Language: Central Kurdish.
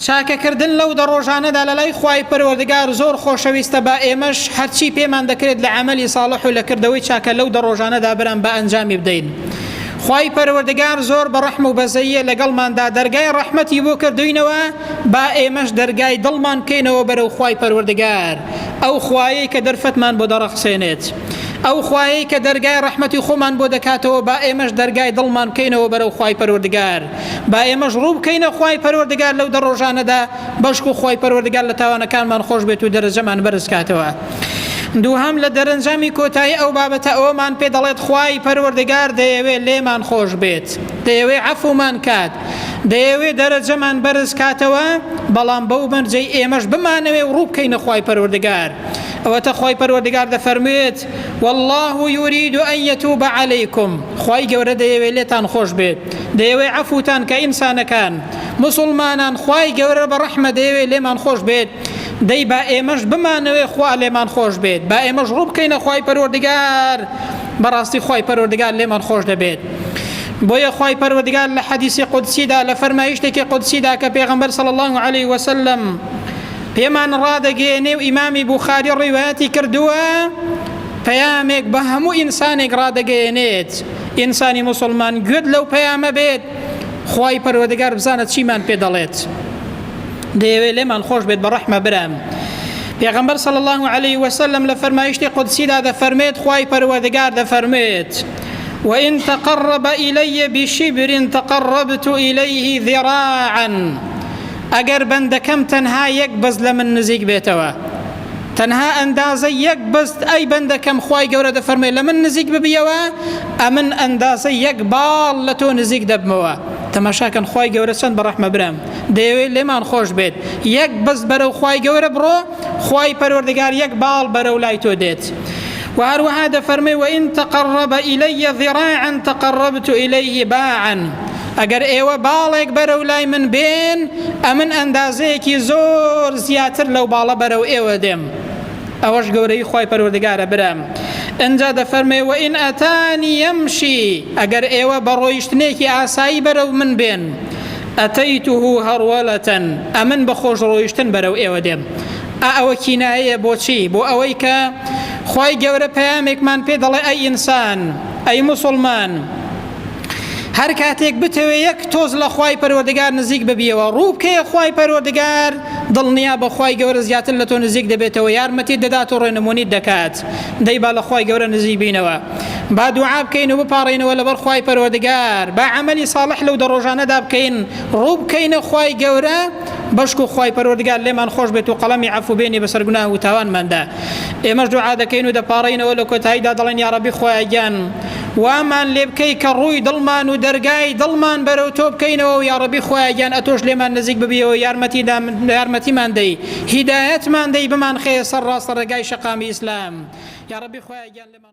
چاکەکردن لەو دە ڕۆژانەدا لە لای خوای پەروەردگار زۆر خۆشەویستە با ئێمەش هەرچی پێمان دەکرێت لە عەمەلی ساڵح و لە کردەوەی چاکە لەو دە ڕۆژانەدا برام با ئەنجامی بدەین خوای پەروەردگار زۆر بە ڕەحم و بەزەییە لەگەڵماندا دەرگای ڕەحمەتی بۆ کردوینەوە با ئێمەش دەرگای دڵمان بکەینەوە بەرەو خوای پەروەردگار ئەو خوایەی کە دەرفەتمان بۆ دەڕەخسێنێت ئەو خوایەی کە دەرگای ڕەحمەتی خۆمان بۆ دەکاتەوە با ئێمەش دەرگای دڵمان بکەینەوە بەرەو خوای پەروەردگار با ئێمەش ڕوو بکەینە خوای پەروەردگار لەو دە ڕۆژانەدا بەشکو خوای پەروەردگار لە تاوانەکانمان خۆش بێت و دەرەجەمان بەرز کاتەوە دووهەم لە دەرەنجامی کۆتایی ئەو بابەتە ئەوەمان پێ دەڵێت خوای پەروەردگار دەیەوێت لێمان خۆش بێت دەیەوێت عەفومان کات دەیەوێت دەرەجەمان بەرز کاتەوە بەڵام بەو مەرجەی ئێمەش بمانەوێ و ڕوو بکەینە خوای پەروەردگار ئەوەتە خوای پەروەردگار دەفەرموێت والله يريد أن يتوب عليكم خوای گەورە دەیەوێ لێتان خۆش بێت دەیەوێ عەفوتان کە ئینسانەکان مسلمانان خوای گەورە بە ڕەحمە دەیەوێ لێمان خۆش بێت دەی با ئێمەش بمانەوێ خوا لێمان خۆش بێت با ئێمەش ڕوو بکەینە خوای پەروەردگار بەڕاستی خوای پەروەردگار لێمان خۆش دەبێت بۆیە خوای پەروەردگار لە حەدیسی قودسیدا لە فەرمایشتێکی قودسیدا کە پێغەمبەر صلی الله علیه وسلم پێمان ڕادەگەیەنێ و ئیمامی بوخاری ڕیوایەتی کردووە پەیامێک بە هەموو ئینسانێک ڕادەگەیەنێت ئینسانی مسلمان گوێت لەو پەیامە بێت خی پەروەدەگار بزانە چیمان پێ دەڵێت دەیەوێت لێمان خۆش بێت بە ڕەحمە برام پێغمبەر صلی الله عليه وسلم لە فەرمایشتی قدسیدا دەفەرمێت خی پەروەدەگار دەفەرمێت وإن تقرب إلي بشبر تقربت إليه ذراعا ئەگەر بەندەکەم تەنها یەک بەست لە من نزیک بێتەوە تەنها ئەندازە یەک بەست ئەی بەندەکەم خوای گەورە دەفەرمێ لە من نزیک ببیەوە ئەمن ئەندازە یەک باڵ لە تۆ نزیک دەبمەوە تەماشاکەن خوای گەورە چەند بەڕەحمە برام دەیەوێت لێمان خۆش بێت یەک بەس بەرە و خوای گەورە بڕۆ خوای پەروەردگار یەک باڵ بەرە و لای تۆ دێت و هەروەها دەفەرمێ وئین تەقەڕەبە ئیلەیە ذراعا تەقەڕەبت ئیلەیه باعا ئەگەر ئێوە باڵێک بەرەو لای من بێن، ئەمن ئەندازەیەکی زۆر زیاتر لەو باڵە بەرەو ئێوە دێم. ئەوەش گەورەی خوای پەروەردگارە برام. ئنجا دەفەرمێ وئن ئەتانی یەمشی ئەگەر ئێوە بە ڕۆیشتنێکی ئاسایی بەرەو من بێن، ئەتەیته هەڕوەلەتەن ئەمن بە خۆش ڕۆیشتن بەرەو ئێوە دێم. ئا ئەوە کینایەیە بۆ چی؟ بۆ ئەوەی کە خوای گەورە پەیامێکمان پێ دەڵێ ئەی ئینسان، ئەی موسڵمان، هەر کاتێک بتەوێ یەک تۆز لە خوای پەروەردگار نزیک ببیەوە ڕووبکەیە خوای پەروەردگار دڵنیا بە خوای گەورە زیاتر لە تۆ نزیک دەبێتەوە یارمەتی دەدات و ڕێنمونیت دەکات دەی با لە خوای گەورە نزیک بینەوە با دوعا بکەین و بپارڕینەوە لەبەر خوای پەروەردگار با عملی ساڵح لەو دەڕۆژانەدا بکەین ڕووبکەینە خوای گەورە بەشکو خوای پەروەردگار لێمان خۆش بێت و قەڵەمی عفوبێنی بەسەر گوناه و تاوانماندا ئێمەش دوعا دەکەین و دەپاڕینەوە لە کۆتاییدا دەڵێن یا ڕەبی خۆیان گیان وامان لێ بکەی کە ڕووی دڵمان و دەرگای دڵمان بەرەو تۆ بکەینەوە و یا ڕەبی خۆیان گیان ئەتۆش لێمان نزیک ببیەوە یارمەتی یارمەتیمان دەی هیدایەتمان دەی بمان خێ سەر ڕاستە ڕێگای شەقامی ئیسلام یا ڕەبی خۆیان گیان لێمان